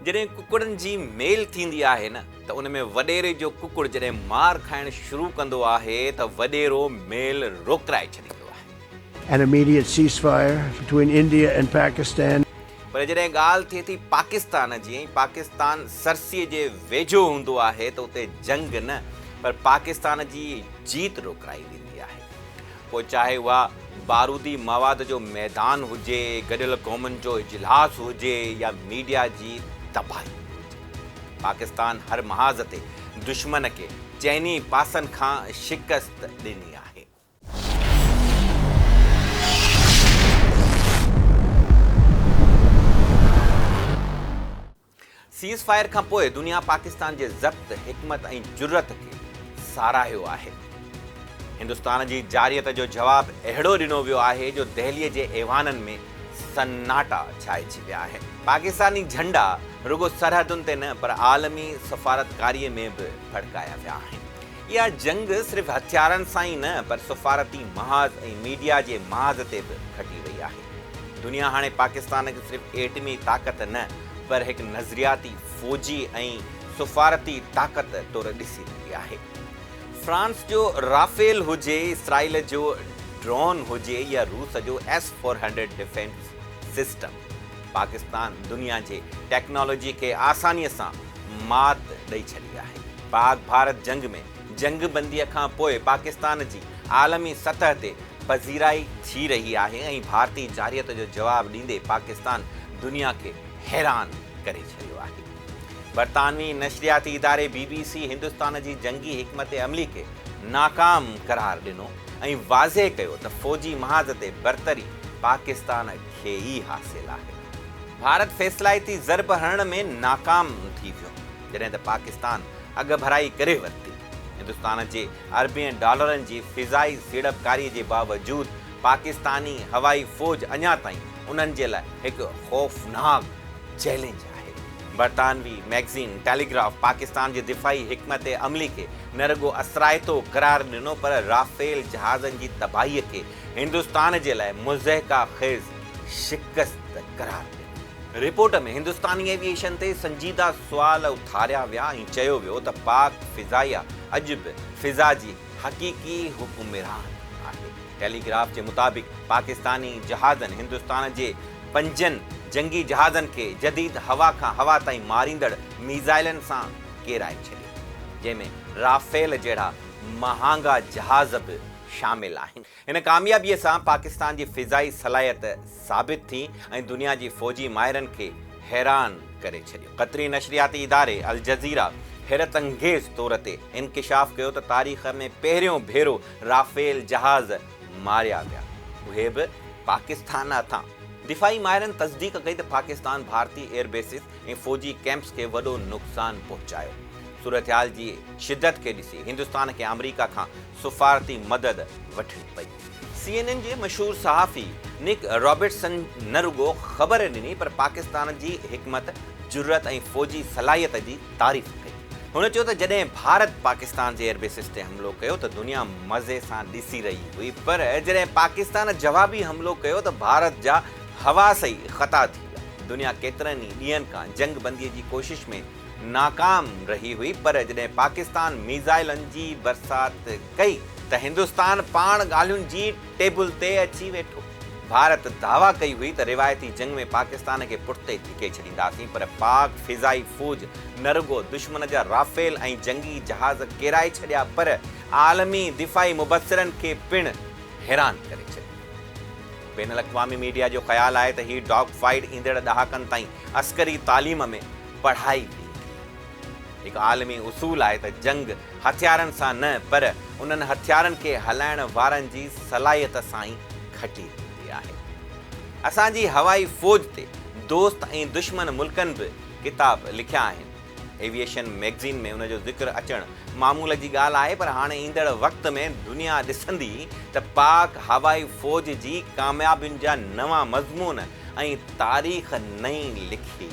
جڏهن ڪڪڙن جي ميل ٿيندي آهي نه ته ان ۾ وڏيري جو ڪڪڙ جڏهن مار کائڻ شروع ڪندو آهي ته وڏيرو ميل روڪرائي ڇڏيندو آهي. پر جڏهن ڳالهه ٿئي ٿي پاڪستان جي ۽ پاڪستان سرسيء جي ويجهو هوندو آهي ته اتي جنگ نه پر پاڪستان جي جيت روڪرائي ويندي آهي. پوء چاهي اها بارودي مواد جو ميدان هجي، گڏيل قومن جو اجلاس هجي يا ميڊيا جي تباهي هجي. پاڪستان هر محاذ تي دشمن کي چئني پاسن کان شڪست ڏني آهي. سيز فائر کان پوء دنيا پاڪستان جي ضبط، حڪمت ۽ جرئت کي ساراهيو آهي. هندستان جي جارحيت جو جواب اهڙو ڏنو ويو آهي جو دهلي جي ايوانن ۾ سناٽا ڇائجي ويا آهن. پاڪستاني جهنڊا رڳو سرحدن تي نه پر عالمي سفارتڪاري ۾ به ڦڙڪايا ويا آهن. اها جنگ صرف هٿيارن سان ئي نه پر سفارتي محاذ ۽ ميڊيا جي محاذ تي به کٽي وئي آهي. دنيا هاڻي پاڪستان کي صرف ايٽمي طاقت نه پر هڪ نظرياتي، فوجي ۽ سفارتي طاقت طور ڏسي رهي آهي. فرانس جو رافيل هجي، اسرائيل جو ڊرون هجي يا روس جو S four hundred defence system, Pakistan دنيا جي ٽيڪنالاجي کي آساني سان مات ڏئي ڇڏي آهي. پاڪ ڀارت جنگ ۾ جنگ بندي کان پوء پاڪستان جي عالمي سطح تي پذيرائي ٿي رهي آهي ۽ ڀارتي جارحيت جو جواب ڏيندي پاڪستان دنيا کي حيران ڪري ڇڏيو آهي. برطانوي نشرياتي اداري بي بي سي هندستان جي جنگي حڪمت عملي کي ناڪام قرار ڏنو ۽ واضح ڪيو ته فوجي محاذ تي برتري پاڪستان کي ئي حاصل آهي. ڀارت فيصلائتي ضرب هڻڻ ۾ ناڪام ٿي ويو جڏهن ته پاڪستان اڳڀرائي ڪري ورتي. هندستان جي اربين ڊالرن جي فضائي سيڙپڪاري جي باوجود پاڪستاني هوائي فوج اڃا تائين انهن جي لاء هڪ خوفناڪ چئلينج آهي. برطانوي ميگزين ٽيليگراف پاڪستان جي دفاعي حڪمت عملي کي نه رڳو اثرائتو قرار ڏنو پر رافيل جهازن جي تباهي کي هندستان جي لاء مضحڪه خيز شڪست قرار ڏنو. رپورٽ ۾ هندستاني ايوي ايشن تي سنجيده سوال اٿاريا ويا ۽ چيو ويو ته پاڪ فضائيه اڄ به فضا جي حقيقي حڪمران آهي. ٽيلي گراف جي مطابق پاڪستاني جهازن هندستان جي پنجن جنگي جهازن کي جديد هوا کان هوا تائين ماريندڙ ميزائلن سان ڪيرائي ڇڏيو جنهن ۾ رافيل جهڙا مهانگا جهاز به شامل آهن. هن ڪاميابيء سان پاڪستان جي فضائي صلاحيت ثابت ٿي ۽ دنيا جي فوجي ماهرن کي حيران ڪري ڇڏيو. قطري نشرياتي اداري الجزيره حيرت انگيز طور تي انڪشاف ڪيو ته تاريخ ۾ پهريون ڀيرو رافيل جهاز ماريا ويا، اهي به پاڪستان هٿان. دفاعي ماهرن تصديق ڪئي ته پاڪستان ڀارتي ايئر بيسز ۽ فوجي ڪئمپس کي وڏو نقصان پهچايو. صورتحال جي شدت کي ڏسي هندستان کي آمريڪا کان سفارتي مدد وٺڻي پئي. سي اين اين جي مشهور صحافي نڪ رابرٽسن نه رڳو خبر ڏني پر پاڪستان جي حڪمت، جرئت ۽ فوجي صلاحيت جي تعريف ڪئي. هن چيو ته جڏهن ڀارت پاڪستان جي ايئربيسز تي حملو ڪيو ته دنيا مزي سان ڏسي رهي هئي پر جڏهن پاڪستان جوابي حملو ڪيو ته ڀارت جا حواس ئي خطا ٿي ويا. دنيا ڪيترن ئي ڏينهن کان جنگ بندي جي ڪوشش ۾ ناڪام رهي هئي پر جڏهن پاڪستان ميزائلن جي برسات ڪئي ته هندستان پاڻ ڳالهين جي ٽيبل تي اچي ويٺو. ڀارت دعويٰ ڪئي هئي ته روايتي جنگ ۾ پاڪستان کي پٺتي ڌڪي ڇڏينداسين پر پاڪ فضائي فوج نه رڳو دشمن جا رافيل ۽ جنگي جهاز ڪيرائي ڇڏيا پر عالمي دفاعي مبصرن کي پڻ حيران ڪري ڇڏيو. بين الاقوامي ميڊيا جو خيال آهي ته هي ڊاگ فائيٽ ايندڙ ڏهاڪن تائين عسڪري تعليم ۾ پڙهائي ٿي. هڪ عالمي اصول آهي ته جنگ هٿيارن سان نه پر انهن هٿيارن کي هلائڻ وارن جي صلاحيت سان ئي کٽي ٿيندي آهي. اسان جي هوائي فوج تي دوست ۽ دشمن ملڪن به ڪتاب لکيا آهن. ايويئيشن مئگزين ۾ ان جو ذڪر اچڻ معمول جي ڳالهه آهي پر هاڻي ايندڙ وقت ۾ دنيا ڏسندي ته پاڪ هوائي فوج جي ڪاميابين جا نوان مضمون ۽ تاريخ نئين لکي